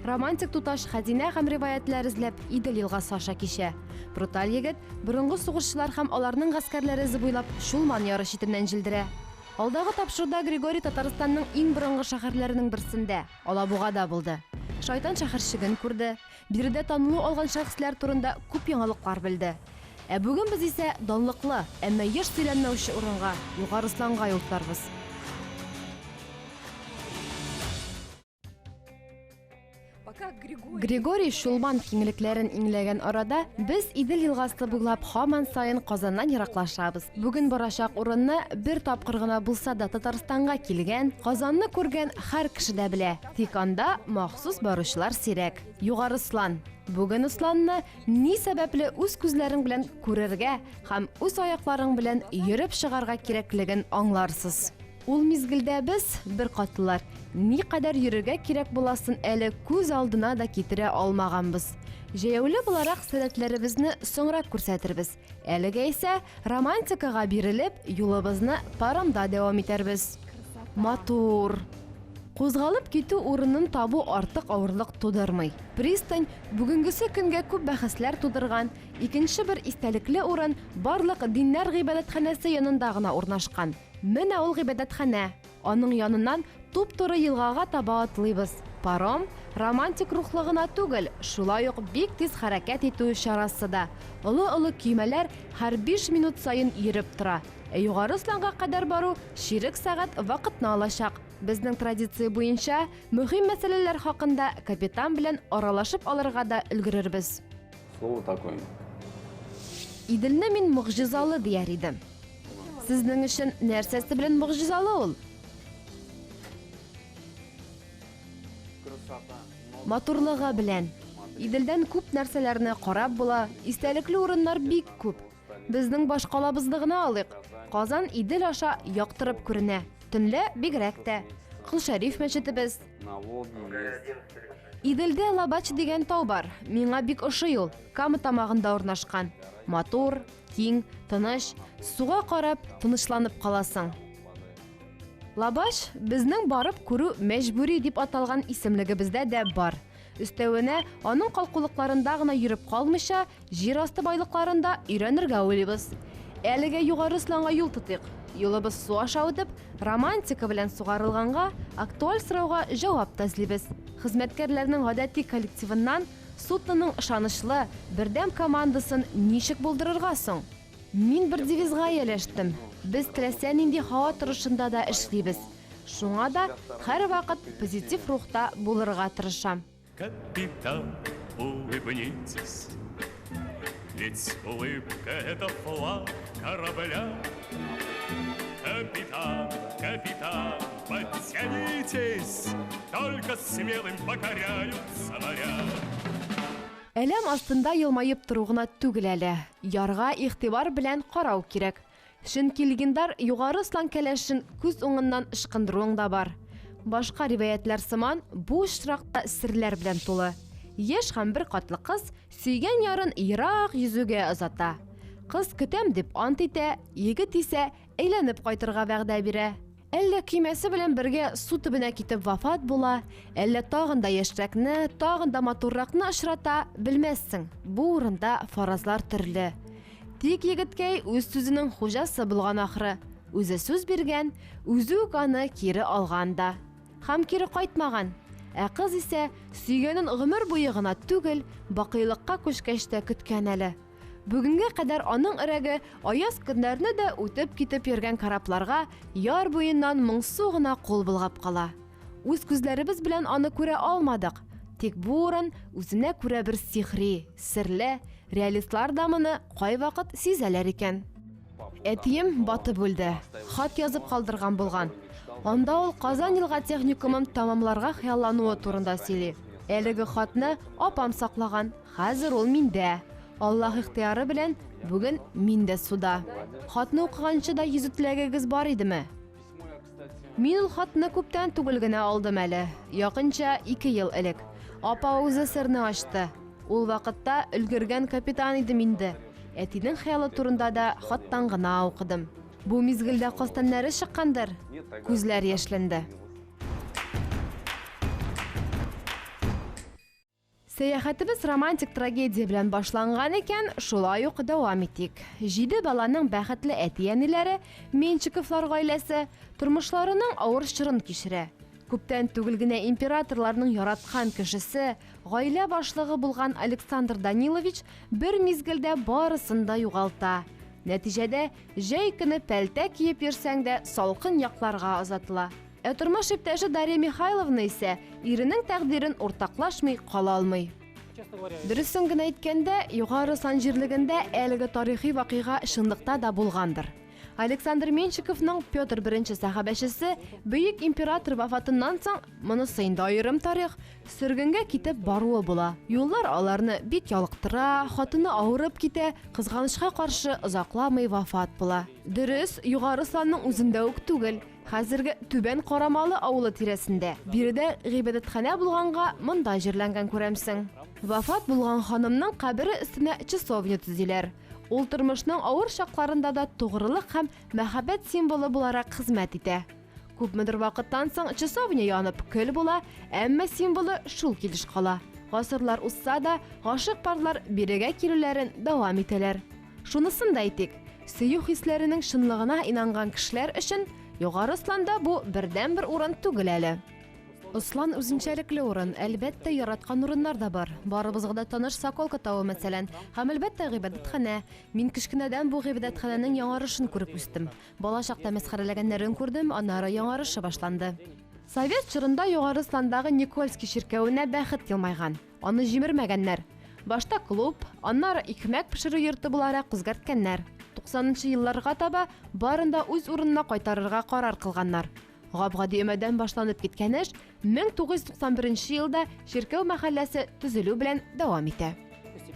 Романтик туташ хәзинә һәм риваятләр эзләп Идел елгасы аша кичә. Бруталь егет борынгы сугышчылар һәм аларның гаскәрләре эзе буйлап Чулман яры читеннән җилдерә. Алдагы тапшыруда Григорий Татарстанның иң борынгы шәһәрләренең берсендә, Алабугада булды. Шайтан шәһәрчеген күрде, биредә танылу алган шәхесләр турында күп яңалыклар белде. Ә бүген без исә данлыклы, әмма еш сөйләнмәүче урынга, Югарысланга юл тотарбыз. Григорий Шулман киңлекләрен иңләгән арада без Идел елгасы буйлап хаман сайын Казаннан ераклашабыз. Бүген барачак урынны бер тапкыр гына булса да Татарстанга килгән, Казанны күргән һәр кеше дә белә. Тик анда махсус баручылар сирәк. Югары Слан. Бүген Сланны ни сәбәпле үз күзләрең белән күрергә һәм үз аякларың белән йөреп чыгарга кирәклеген аңларсыз. Ул мизгелдә без, беркатлылар, никадәр йөрергә кирәк буласын әле күз алдына да китерә алмаганбыз. Җәяүле буларак сәләтләребезне соңрак күрсәтербез, әлегә исә, романтикага бирелеп, юлыбызны паромда дәвам итәрбез. Матур! Кузгалып китү урынын табу артык авырлык тудырмый. Пристань, бүгенгесе көнгә күп бәхәсләр тудырган, икенче бер истәлекле урын барлык диннәр гыйбадәтханәсе янында гына урнашкан. Менә ул гыйбадәтханә. Аның яныннан туп-туры елгага таба атлыйбыз. Паром, романтик рухлы гына түгел, шулай ук бик тиз хәрәкәт итү чарасы да. Олы-олы көймәләр һәр биш минут саен йөреп тора. Ә Югары Сланга кадәр бару чирек сәгать вакытны алачак. Безнең традиция буенча, мөһим мәсьәләләр хакында капитан белән аралашып алырга да өлгерербез. Слово такое. Иделне мин могҗизалы дияр идем. Сезнең өчен нәрсәсе белән могҗизалы ул? Матурлыгы белән. Иделдән күп нәрсәләрне карап була, истәлекле урыннар бик күп. Безнең башкалабызны гына алыйк. Казан Идел аша яктырып күренә. Төнлә бигрәк тә. Кол Шәриф мәчетебез. Иделдә Лабач дигән тау бар. Миңа бик ошый ул. Кама тамагында урнашкан. Матур, киң, тыныч. Суга карап, тынычланып каласың. Лабач безнең барып күрү мәҗбүри дип аталган исемлегебездә дә бар. Өстәвенә, аның калкулыкларында гына йөреп калмыйча, җир асты байлыкларын да өйрәнергә уйлыйбыз. Әлегә Югары Сланга юл тотыйк. Юлыбыз су аша үтеп, романтика белән сугарылганга, актуаль сорауга җавап та эзлибез. Хезмәткәрләрнең гадәти коллективыннан судноның ышанычлы, бердәм командасын ничек булдырырга соң? Мин бер девизга ияләштем, без теләсә нинди һава торышында да эшлибез. Шуңа да һәрвакыт позитив рухта булырга тырышам. Капитан, улыбнитесь, ведь улыбка – это флаг корабля. Капитан, капитан, подтянитесь, только смелым покоряются моря. Әләм астында елмаеп тору гына түгел әле, ярга игътибар белән карау кирәк. Чөнки легендар Югары Слан кәләшен күз уңыннан ычкындыруың да бар. Башка риваятьләр сыман, бу очрак та серләр белән тулы. Яшь һәм беркатлы кыз сөйгән ярын ерак йөзүгә озата. Кыз көтәм дип ант итә, егет исә әйләнеп кайтырга вәгъдә бирә. Әллә көймәсе белән бергә су төбенә китеп вафат була, әллә тагын да яшьрәкне, тагын да матурракны очрата, белмәссең. Бу урында фаразлар төрле. Тик егеткәй үз сүзенең хуҗасы булган ахры. Үзе сүз биргән, үзе үк аны кире алган да. Һәм кире кайтмаган. Ә кыз исә сөйгәнен гомер буе гына түгел, бакыйлыкка күчкәч тә көткән әле. Бүгенгә кадәр аның өрәге аяз көннәрне дә үтеп китеп йөргән корабларга яр буеннан моңсу гына кул болгап кала. Үз күзләребез белән аны күрә алмадык, тик бу урын үзенә күрә бер сихри, серле, реалистлар да моны кайвакыт сизәләр икән. Әтием батып үлде. Хат язып калдырган булган. Анда ул Казан елга техникумын тәмамларга хыяллануы турында сөйли. Әлеге хатны апам саклаган. Хәзер ул миндә. Аллаһ ихтыяры белән, бүген мин дә суда. Хатны укыганчы да йөзү теләгегез бар идеме? Мин ул хатны күптән түгел генә алдым әле, якынча ике ел элек. Апа үзе серне ачты. Ул вакытта өлгергән капитан идем инде. Әтинең хыялы турында да хаттан гына укыдым. Бу мизгелдә каз тәннәре чыккандыр? Күзләр яшьләнде. Сәяхәтебез романтик трагедия белән башланган икән, шулай ук дәвам итик. Җиде баланың бәхетле әти-әниләре, Меньшиковлар гаиләсе, тормышларының авыр чорын кичерә. Күптән түгел генә императорларның яраткан кешесе, гаилә башлыгы булган Александр Данилович бер мизгелдә барысын да югалта. Нәтиҗәдә, җәй көне пәлтә киеп йөрсәң дә салкын якларга озатыла. Ә тормыш иптәше Дарья Михайловна исә иренең тәкъдирен уртаклашмый кала алмый. Дөресен генә әйткәндә, Югары Сан җирлегендә әлеге тарихи вакыйга чынлыкта да булгандыр. Александр Менщиковның Петр I сәхабәчесе бөек император вафатыннан соң, монысы инде аерым тарих, сөргенгә китеп баруы була. Юллар аларны бик ялыктыра, хатыны авырып китә, кызганычка каршы, озакламый вафат була. Дөрес, Югары Санның үзендә үк түгел. Хәзерге Түбән Карамалы авылы тирәсендә. Биредә гыйбадәтханә булганга, монда җирләнгән күрәмсең. Вафат булган ханымның кабере өстенә часовня төзиләр. Ул тормышның авыр чакларында да тугрылык һәм мәхәббәт символы буларак хезмәт итә. Күпмедер вакыттан соң часовня янып, көл була, әмма символы шул килеш кала. Гасырлар узса да, гашыйк парлар бирегә килүләрен дәвам итәләр. Шунысын да әйтик, сөю хисләренең чынлыгына инанган кешеләр өчен Югары Осланда бу бердәнбер урын түгел әле. Ослан үзенчәлекле урын, әлбәттә, яраткан урыннар да бар. Барыбызга да таныш Соколка тавы, мәсәлән, һәм, әлбәттә, гыйбадәтханә. Мин кечкенәдән бу гыйбадәтханәнең яңарышын күреп үстем. Бала чакта мәсхәрәләгәннәрен күрдем, аннары яңарышы башланды. Совет чорында Югары Осландагы Никольский чиркәвенә бәхет елмайган. Аны җимермәгәннәр. Башта клуб, аннары икмәк пешерү йорты буларак үзгәрткәннәр. Туксанынчы елларга таба барын да үз урынына кайтарырга карар кылганнар. Гап-гади өмәдән башланып киткән эш 1991 елда чиркәү мәхәлләсе төзелү белән дәвам итә.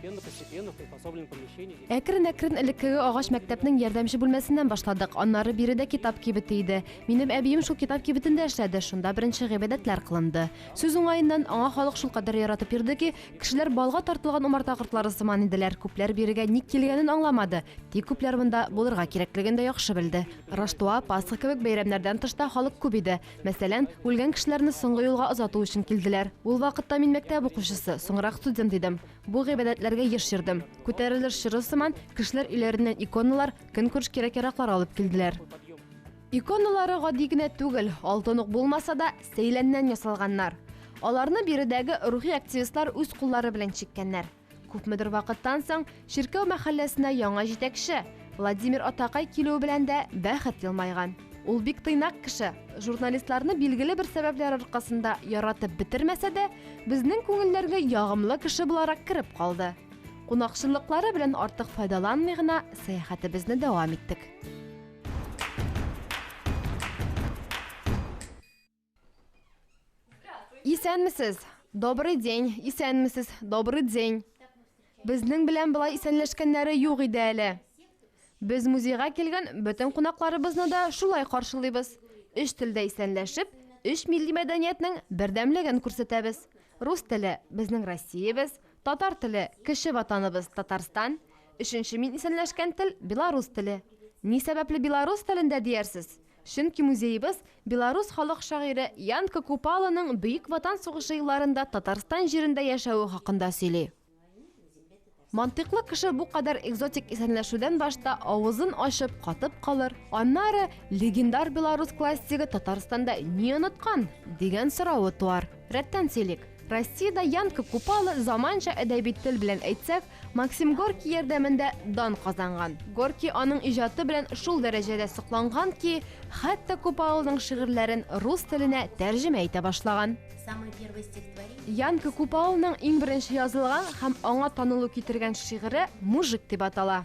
Әкрен-әкрен элеккеге агач мәктәпнең ярдәмче бүлмәсеннән башладык. Аннары биредә китап кибете иде. Минем әбием шул китап кибетендә эшләде, шунда беренче гыйбадәтләр кылынды. Сүз уңаеннан, аңа халык шулкадәр яратып йөрде ки, кешеләр балга тартылган умарта кортлары сыман иделәр, күпләр бирегә ник килгәнен аңламады, тик күпләр монда булырга кирәклеген дә яхшы белде. Раштуа, Пасха кебек бәйрәмнәрдән тыш та халык күп иде. Мәсәлән, үлгән кешеләрне соңгы юлга озату өчен килделәр. Ул вакытта мин мәктәп укучысы, соңрак студент идем. Бу гыйбадәтләргә еш йөрдем. Күтәрелеш чоры сыман, кешеләр өйләреннән иконалар, көнкүреш кирәк-яраклар алып килделәр. Иконалары гади генә түгел, алтын ук булмаса да, сәйләннән ясалганнар. Аларны биредәге рухи активистлар үз куллары белән чиккәннәр. Күпмедер вакыттан соң чиркәү мәхәлләсенә яңа җитәкче Владимир Атакай килүе белән дә бәхет елмайган. Ул бик тыйнак кеше, журналистларны билгеле бер сәбәпләр аркасында яратып бетермәсә дә, безнең күңелләргә ягымлы кеше буларак кереп калды. Кунакчыллыклары белән артык файдаланмый гына сәяхәтебезне дәвам иттек. Исәнмесез! Добрый день! Исәнмесез! Добрый день! Безнең белән былай исәнләшкәннәре юк иде әле. Без музейга килгән бөтен кунакларыбызны да шулай каршылыйбыз. Өч телдә исәнләшеп, өч милли мәдәниятнең бердәмлеген күрсәтәбез. Рус теле безнең Россиябез, Татар теле, кече ватаныбыз Татарстан, өченче мин исәнләшкән тел, белорус теле. Ни сәбәпле белорус телендә диярсез? Чөнки музеебыз белорус халык шагыйре Ян Кокупалоның Бөек Ватан сугышы елларында Татарстан җирендә яшәве хакында сөйли. Мантыйклы кеше бу кадәр экзотик исәнләшүдән башта авызын ачып катып калыр, аннары, Легендар белорус классигы Татарстанда ни оныткан? дигән соравы туар. Рәттән сөйлик. Россиядә Янка Купала заманча әдәби тел белән әйтсәк, Максим Горький ярдәмендә дан казанган. Горький аның иҗаты белән шул дәрәҗәдә сокланган ки, хәтта Купаланың шигырьләрен рус теленә тәрҗемә итә башлаган. Янка Купаланың иң беренче язылган һәм аңа танылу китергән шигыре Мужик дип атала.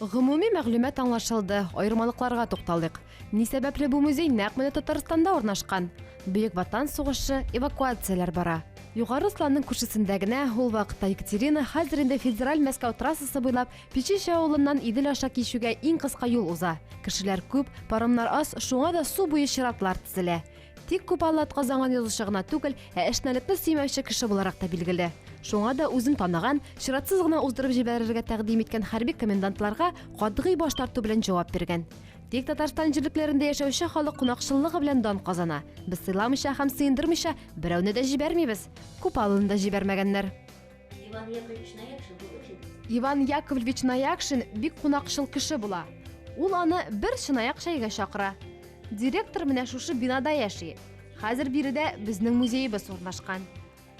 Гомуми мәгълүмат аңлашылды, аермалыкларга тукталыйк. Ни сәбәпле бу музей нәкъ менә Татарстанда урнашкан? Бөек Ватан сугышы, эвакуацияләр бара. Югары Осланның күршесендә генә, ул вакытта Екатерина, хәзер инде Федераль Мәскәү трассасы буйлап, Печище авылыннан Идел аша кичүгә иң кыска юл уза. Кешеләр күп, паромнар аз, шуңа да су буе чиратлар тезелә. Тик Купалы атказанган язучы гына түгел, ә әшнәлекне сөймәүче кеше буларак та билгеле. Шуңа да үзен танаган, чиратсыз гына уздырып җибәрергә тәкъдим иткән хәрби комендантларга катгый баш тарту белән җавап биргән. Тик Татарстан җирлекләрендә яшәүче халык кунакчыллыгы белән дан казана. Без сыйламыйча һәм сыендырмыйча берәүне дә җибәрмибез. Купалыны да җибәрмәгәннәр. Иван Яковлевич Наякшин был очень... Иван Яковлевич Наякшин бик кунакчыл кеше була. Ул аны бер чынаяк чәйгә чакыра. Директор менә шушы бинада яши. Хәзер биредә безнең музеебыз урнашкан.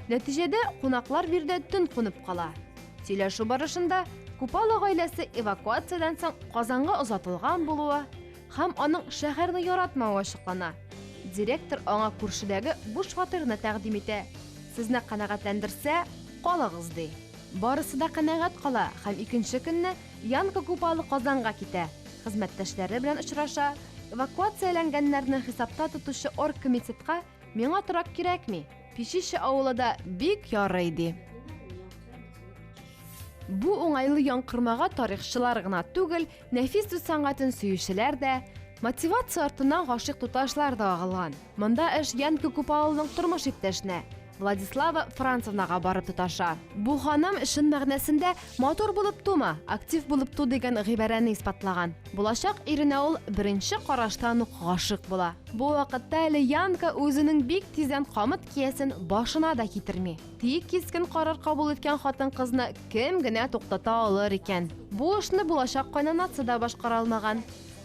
Нәтиҗәдә кунаклар биредә төн кунып кала. Сөйләшү барышында Купало гаиләсе эвакуациядән соң Казанга озатылган булуы, һәм аның шәһәрне яратмавы ачыклана. Директор аңа күршедәге буш фатирны тәкъдим итә. Сезне канәгатьләндерсә, калыгыз, ди. Барысы да канәгать кала һәм икенче көнне Янка Купало Казанга китә, хезмәттәшләре белән очраша, эвакуацияләнгәннәрне хисапта тотучы оргкомитетка Миңа торак кирәкми, Печище авылы да бик ярый, ди. Бу уңайлы яңкырмага тарихчылар гына түгел, Нәфис сүз сәнгатен сөючеләр дә, мотивация артыннан гашыйк туташлар да агылган. Монда эш Янка Купаловның тормыш иптәшенә, Владислава Францевнага барып тоташа. Бу ханым чын мәгънәсендә матур булып тума, актив булып ту дигән гыйбарәне исбатлаган. Булачак иренә ул беренче караштан ук гашыйк була. Бу вакытта әле Янка үзенең бик тиздән камыт киясен башына да китерми. Тик кискен карар кабул иткән хатын-кызны кем генә туктата алыр икән? Бу эшне булачак кайнанасы да башкара алмаган.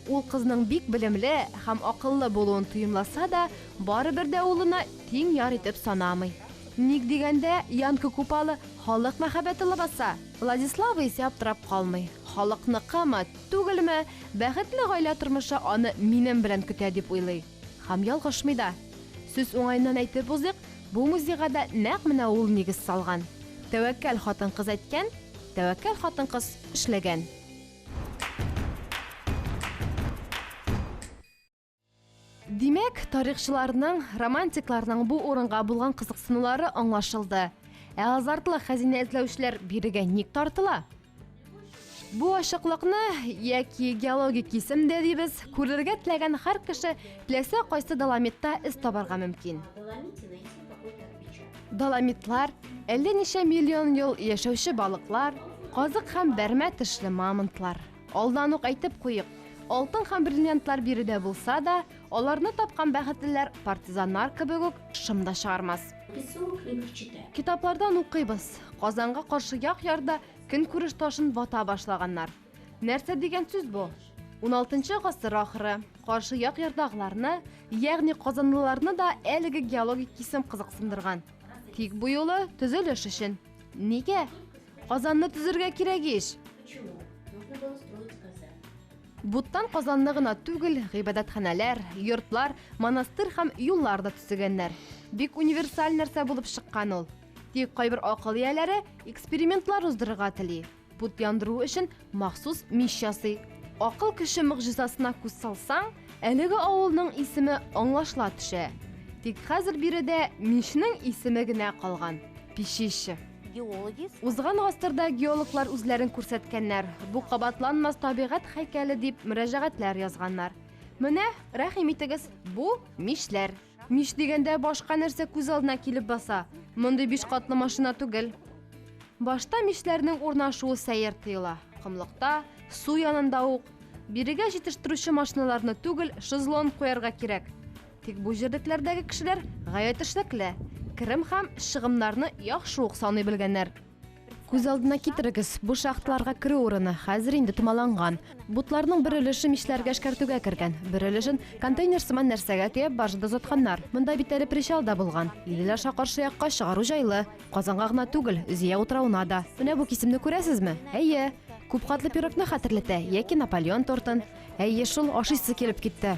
Ул кызның бик белемле һәм акыллы булуын тоемласа да, барыбер дә улына тиң яр итеп санамый. Ник дигәндә, Янка Купалы халык мәхәббәте лабаса. Владислава исә аптырап калмый. Халыкныкымы, түгелме, бәхетле гаилә тормышы аны минем белән көтә дип уйлый. Һәм ялгышмый да. Сүз уңаеннан әйтеп узыйк, бу музейга да нәкъ менә ул нигез салган. Тәвәккәл хатын-кыз әйткән, тәвәккәл хатын-кыз эшләгән. Димәк, тарихчыларның, романтикларның бу урынга булган кызыксынулары аңлашылды. Ә азартлы хәзинә эзләүчеләр бирегә ник тартыла? Бу ашыклыкны яки геологик кисем дә дибез, күрергә теләгән һәр кеше теләсә кайсы доломитта эз табарга мөмкин. Доломитлар, әллә ничә миллион ел яшәүче балыклар, казык һәм бәрмә тешле мамонтлар. Алдан ук әйтеп куйыйк, алтын һәм бриллиантлар биредә булса да, Аларны тапкан бәхетлеләр партизаннар кебек үк шым да чыгармас. Китаплардан укыйбыз. Казанга каршы як ярда көнкүреш ташын вата башлаганнар. Нәрсә дигән сүз бу? 16 гасыр ахыры. Каршы як ярдагыларны, ягъни казанлыларны да әлеге геологик кисем кызыксындырган. Тик бу юлы төзелеш өчен. Нигә? Казанны төзергә кирәк ич. Буттан Казанны гына түгел, гыйбадәтханәләр, йортлар, монастырь һәм юллар да төзегәннәр. Бик универсаль нәрсә булып чыккан ул. Тик кайбер акыл ияләре экспериментлар уздырырга тели. Бут яндыру өчен махсус мич ясый. Акыл кеше могҗизасына күз салсаң, әлеге авылның исеме аңлашыла төшә. Тик хәзер биредә мичнең исеме генә калган, Печище. Узган гасырда геологлар үзләрен күрсәткәннәр, бу кабатланмас табигать һәйкәле дип мөрәҗәгатьләр язганнар. Менә, рәхим итегез, бу мишләр. Миш дигәндә башка нәрсә күз алдына килеп баса? Мондый биш катлы машина түгел. Башта мишләрнең урнашуы сәер тоела. Комлыкта, су янында ук. Бирегә җитештерүче машиналарны түгел, шезлон куярга кирәк. Тик бу җирлекләрдәге кешеләр гаять эшлекле, керем һәм чыгымнарны яхшы ук саный белгәннәр. Күз алдына китерегез, бу шахталарга керү урыны хәзер инде томаланган. Бутларның бер өлеше мичләргә эшкәртүгә кергән, бер өлешен контейнер сыман нәрсәгә төяп баржада озатканнар. Монда бит әле причал да булган. Идел аша каршы якка чыгару җайлы. Казанга гына түгел, Зөя утравына да. Менә бу кисемне күрәсезме? Әйе. Күпкатлы пирогны хәтерләтә яки Наполеон тортын. Әйе шул, ашыйсы килеп китте.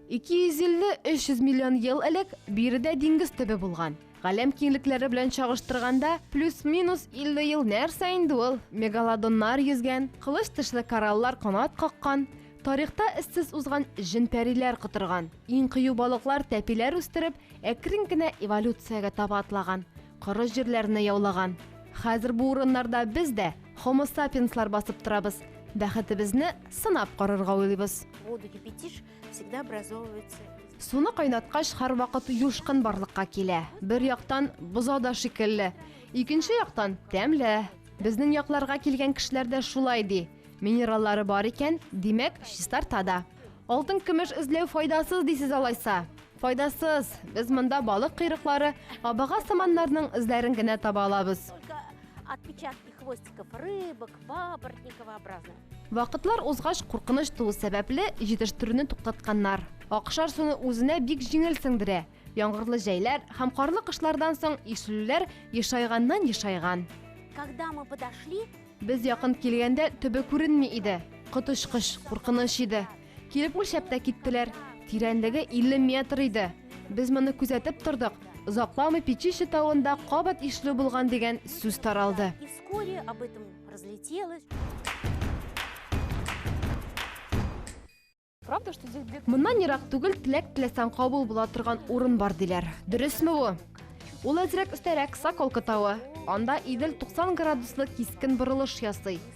250-300 миллион ел элек биредә диңгез төбе булган. Галәм киңлекләре белән чагыштырганда, плюс-минус 50 ел нәрсә инде ул? Мегалодоннар йөзгән, кылыч тышлы кораллар канат каккан, тарихта эзсез узган җен-пәриләр котырган, иң кыю балыклар тәпиләр үстереп, әкрен генә эволюциягә таба атлаган. Коры җирләрне яулаган. Хәзер бу урыннарда без дә Homo sapiens-лар басып торабыз. Бәхетебезне сынап карарга уйлыйбыз. Воду кипятишь, всегда образовывается. Суны кайнаткач, һәрвакыт юшкын барлыкка килә. Бер яктан, бозау да шикелле. Икенче яктан, тәмле. Безнең якларга килгән кешеләр дә шулай ди. Минераллары бар икән, димәк, чистарта да. Алтын-көмеш эзләү файдасыз дисез алайса? Файдасыз! Без монда балык койрыклары, абага сыманнарның эзләрен генә таба алабыз. Вакытлар узгач, куркыныч туу сәбәпле, җитештерүне туктатканнар. Акшар суны үзенә бик җиңел сеңдерә. Яңгырлы җәйләр һәм карлы кышлардан соң ишелүләр ешайганнан-ешайган. Без якын килгәндә төбе күренми иде. Коточкыч куркыныч иде. Килеп үлчәп тә киттеләр. Тирәнлеге 50 метр иде. Без моны күзәтеп тордык. Озакламый Печище тавында кабат ишле булган дигән сүз таралды. Моннан ерак түгел теләк теләсәң кабул була торган урын бар диләр. Дөресме бу? Ул әзрәк өстәрәк Соколка тавы. Анда Идел 90 градуслы кискен борылыш ясый.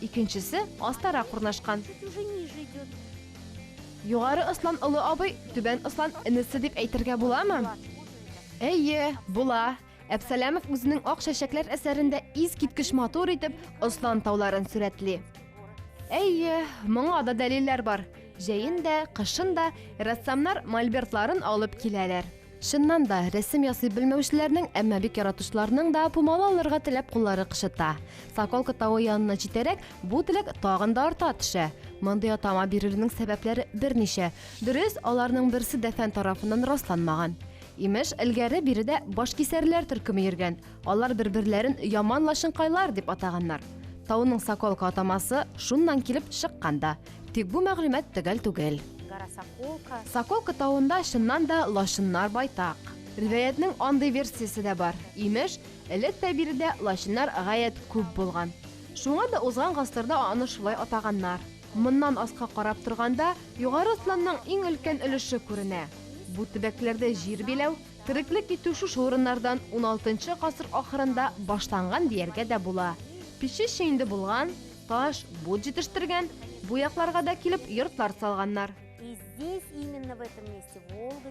Икенчесе астарак урнашкан. Югары Ослан олы абый, Түбән Ослан энесе дип әйтергә буламы? Әйе, була. Әпсәләмов үзенең Ак чәчәкләр әсәрендә искиткеч матур итеп Ослан тауларын сурәтли. Әйе, моңа да дәлилләр бар. Җәен дә, кышын да рәссамнар мольбертларын алып киләләр. Чыннан да, рәсем ясый белмәүчеләрнең, әмма бик яратучыларның да пумала алырга теләп куллары кычыта. Соколка тавы янына җитәрәк, бу теләк тагын да арта төшә. Мондый атама бирелүнең сәбәпләре берничә. Дөрес, аларның берсе дә фән тарафыннан расланмаган. Имеш, элгәре биредә башкисәрләр төркеме йөргән, алар бер-берләрен яман лачынкайлар дип атаганнар. Тауның соколка атамасы шуннан килеп чыккан да. Тик бу мәгълүмат төгәл түгел. Соколка тавында чыннан да лачыннар байтак. Риваятның андый версиясе дә бар. Имеш, элек тә биредә лачыннар гаять күп булган. Шуңа да узган гасырда аны шулай атаганнар. Моннан аска карап торганда, Югары Сланның иң өлкән өлеше күренә. Бу төбәкләрдә җир биләү, тереклек итү шушы урыннардан уналтынчы гасыр ахырында башланган дияргә дә була. Печище инде булган, Таш, бут җитештергән, бу якларга да килеп йортлар салганнар.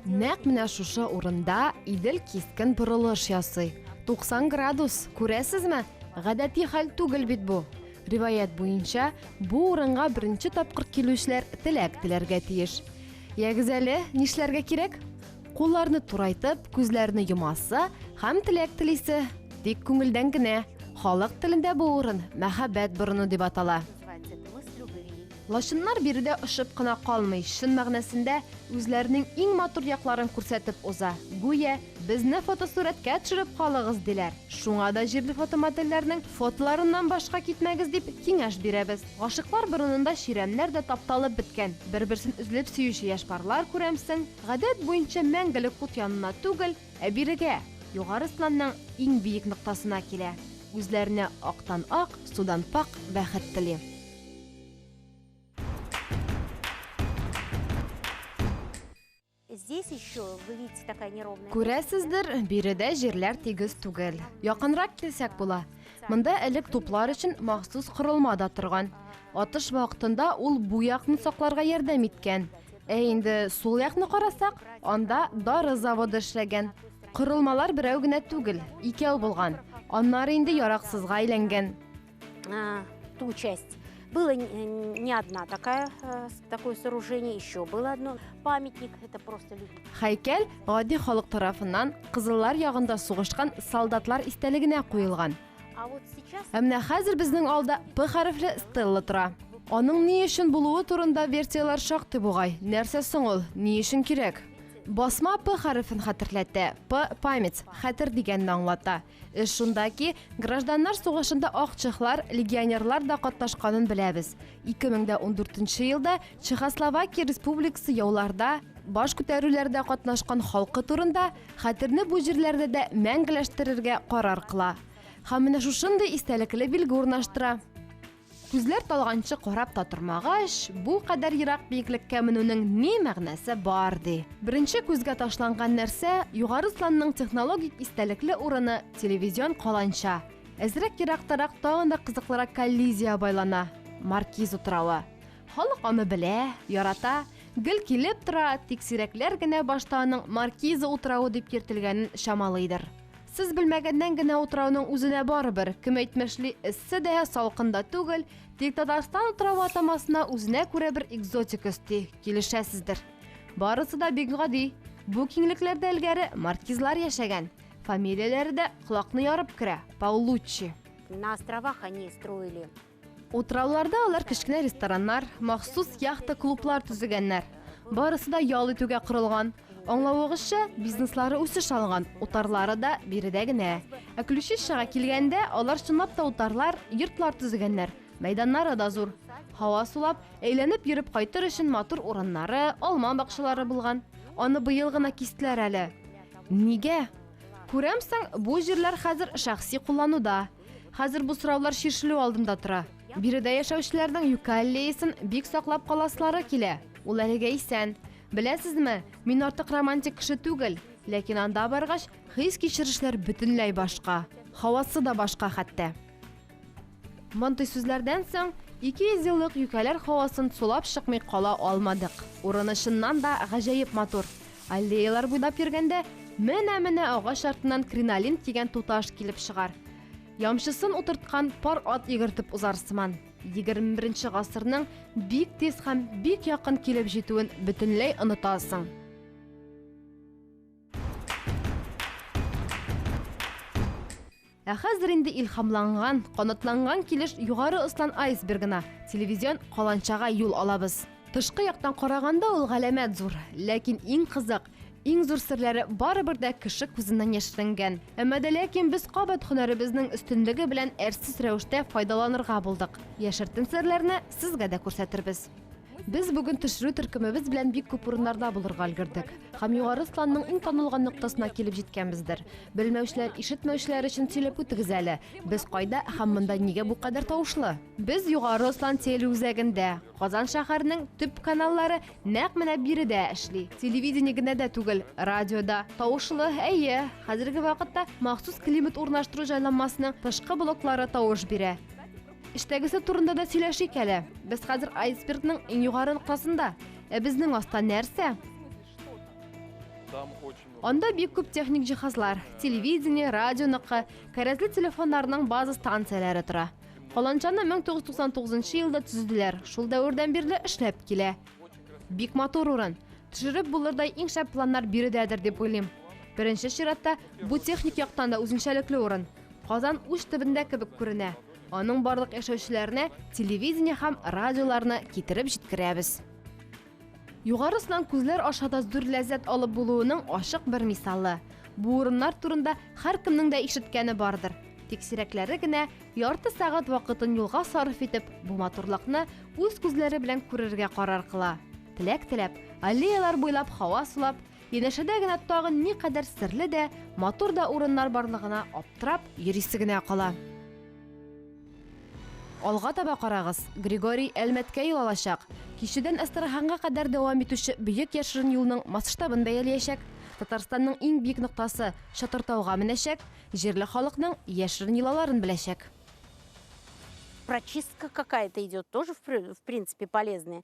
Нәкъ менә шушы урында Идел кискен борылыш ясый. 90 градус, күрәсезме? Гадәти хәл түгел бит бу. Риваять буенча, бу урынга беренче тапкыр килүчеләр теләк теләргә тиеш. Ягез әле, нишләргә кирәк? Кулларны турайтып, күзләрне йомасы һәм теләк телисе. Тик күңелдән генә. Халык телендә бу урын мәхәббәт борыны дип атала. Лачыннар биредә очып кына калмый, чын мәгънәсендә үзләренең иң матур якларын күрсәтеп уза. Гүя, безне фотосурәткә төшереп калыгыз, диләр. Шуңа да җирле фотомодельләрнең фотоларыннан башка китмәгез дип киңәш бирәбез. Гашыйклар борынында чирәмнәр дә тапталып беткән. Бер-берсен өзлеп сөюче яшь парлар күрәмсең. Гадәт буенча мәңгелек ут янына түгел, ә бирегә, Югары Сланның иң биек ноктасына килә. Үзләренә актан-ак, судан пакъ бәхет тели. Күрәсездер, биредә җирләр тигез түгел. Якынрак килсәк була. Монда элек туплар өчен махсус корылма да торган. Атыш вакытында ул бу якны сакларга ярдәм иткән. Ә инде сул якны карасак, анда дары заводы эшләгән. Корылмалар берәү генә түгел, икәү булган. Аннары инде яраксызга әйләнгән. А, ту часть. Было не одна такая, э, такое сооружение, еще было одно. Памятник, это просто люди. Хәйкәл гади халык тарафыннан кызыллар ягында сугышкан солдатлар истәлегенә куелган. Ә менә хәзер безнең алда П хәрефле стелла тора. Аның ни өчен булуы турында версияләр шактый бугай. Нәрсә соң ул? Ни өчен кирәк? Басма П хәрефен хәтерләтә. П память, хәтер дигәнне аңлата. Эш шунда ки, гражданнар сугышында ак чехлар, легионерлар да катнашканын беләбез. 2014 елда Чехословакия республикасы яуларда, баш күтәрүләрдә катнашкан халкы турында хәтерне бу җирләрдә дә мәңгеләштерергә карар кыла һәм менә шушындый истәлекле билге урнаштыра. Күзләр талганчы карап та тормагач, бу кадәр ерак биеклеккә менүнең ни мәгънәсе бар, ди. Беренче күзгә ташланган нәрсә, Югары Сланның технологик истәлекле урыны, телевизион каланча. Әзрәк ерактарак тагын да кызыклырак коллизия байлана, Маркиз утравы. Халык аны белә, ярата, гел килеп тора, тик сирәкләр генә башта аның Маркиза утравы дип йөртелгәнен чамалыйдыр. Сез белмәгәннән генә утрауның үзенә барыбер, кем әйтмешли, эссе дә, салкын да түгел, тик Татарстан утравы атамасына үзенә күрә бер экзотик өсти, килешәсездер. Барысы да бик гади. Бу киңлекләрдә элгәре маркизлар яшәгән. Фамилияләре дә колакны ярып керә, Паулуччи. На островах они строили Утрауларда алар кечкенә рестораннар, махсус яхта-клублар төзегәннәр. Барысы да ял итүгә корылган. Аңлавыгызча, бизнеслары үсеш алган, утарлары да биредә генә. Ә Ключищага килгәндә, алар чынлап та утарлар, йортлар төзегәннәр. Мәйданнары да зур. Һава сулап, әйләнеп йөреп кайтыр өчен матур урыннары, алма бакчалары булган. Аны быел гына кистеләр әле. Нигә? Күрәмсең, бу җирләр хәзер шәхси куллануда. Хәзер бу сораулар чишелү алдында тора. Биредә яшәүчеләрнең юкә аллеясын бик саклап каласылары килә. Ул әлегә исән. Беләсезме, мин артык романтик кеше түгел, ләкин анда баргач, хис-кичерешләр бөтенләй башка. Һавасы да башка хәтта. Мондый сүзләрдән соң 200 еллык юкәләр һавасын сулап чыкмый кала алмадык. Урыны чыннан да гаҗәеп матур. Аллеялар буйлап йөргәндә, менә-менә агач артыннан кринолин дигән туташ килеп чыгар. Ямчысын утырткан пар ат йөгертеп узар сыман, егерме беренче гасырның бик тиз һәм бик якын килеп җитүен бөтенләй онытасың. Ә хәзер инде илһамланган, канатланган килеш Югары Ослан айсбергына, телевизион каланчага юл алабыз. Тышкы яктан караганда ул галәмәт зур, ләкин иң кызык, иң зур серләре барыбер дә кеше күзеннән яшеренгән. Әмма дә ләкин без кабат һөнәребезнең өстенлеге белән әрсез рәвештә файдаланырга булдык. Яшертен серләрне сезгә дә күрсәтербез. Без бүген төшерү төркемебез белән бик күп урыннарда булырга өлгердек. Һәм Югары Сланның иң танылган ноктасына килеп җиткәнбездер. Белмәүчеләр, ишетмәүчеләр өчен сөйләп үтегез әле. Без кайда һәм монда нигә бу кадәр тавышлы? Без Югары Слан телеүзәгендә. Казан шәһәренең төп каналлары нәкъ менә биредә эшли. Телевидение генә дә түгел, радиода. Тавышлы, әйе. Хәзерге вакытта махсус климат урнаштыру җайланмасының тышкы блоклары тавыш бирә. Эштәгесе турында да сөйләшик әле. Без хәзер айсбергның иң югары ноктасында. Ә безнең аста нәрсә? Анда бик күп техник җиһазлар, телевидение, радио ныкы, кәрәзле телефоннарның база станцияләре тора. Каланчаны 1999 елда төзеделәр. Шул дәвердән бирле эшләп килә. Бик матур урын. Төшереп булырдай иң шәп планнар биредәдер дип уйлыйм. Беренче чиратта бу техник яктан да үзенчәлекле урын. Казан уч төбендә кебек күренә. Аның барлык яшәүчеләренә телевидение һәм радиоларны китереп җиткерәбез. Югарысынан күзләр аша да зур ләззәт алып булуының ачык бер мисалы. Бу урыннар турында һәркемнең дә ишеткәне бардыр. Тик сирәкләре генә ярты сәгать вакытын юлга сарыф итеп, бу матурлыкны үз күзләре белән күрергә карар кыла. Теләк теләп, аллеялар буйлап һава сулап, Янәшәдә генә тагын никадәр серле дә, матур да урыннар барлыгына аптырап, йөрисе генә кала. Алга таба карагыз, Григорий Әлмәткә юл алачак. Кишедән Әстерханга кадәр дәвам итүче бөек яшерен юлның масштабын бәялиячәк, Татарстанның иң биек ноктасы Чатыртауга менәчәк, җирле халыкның яшерен йолаларын беләчәк. Прочистка какая-то идет, тоже в принципе полезная.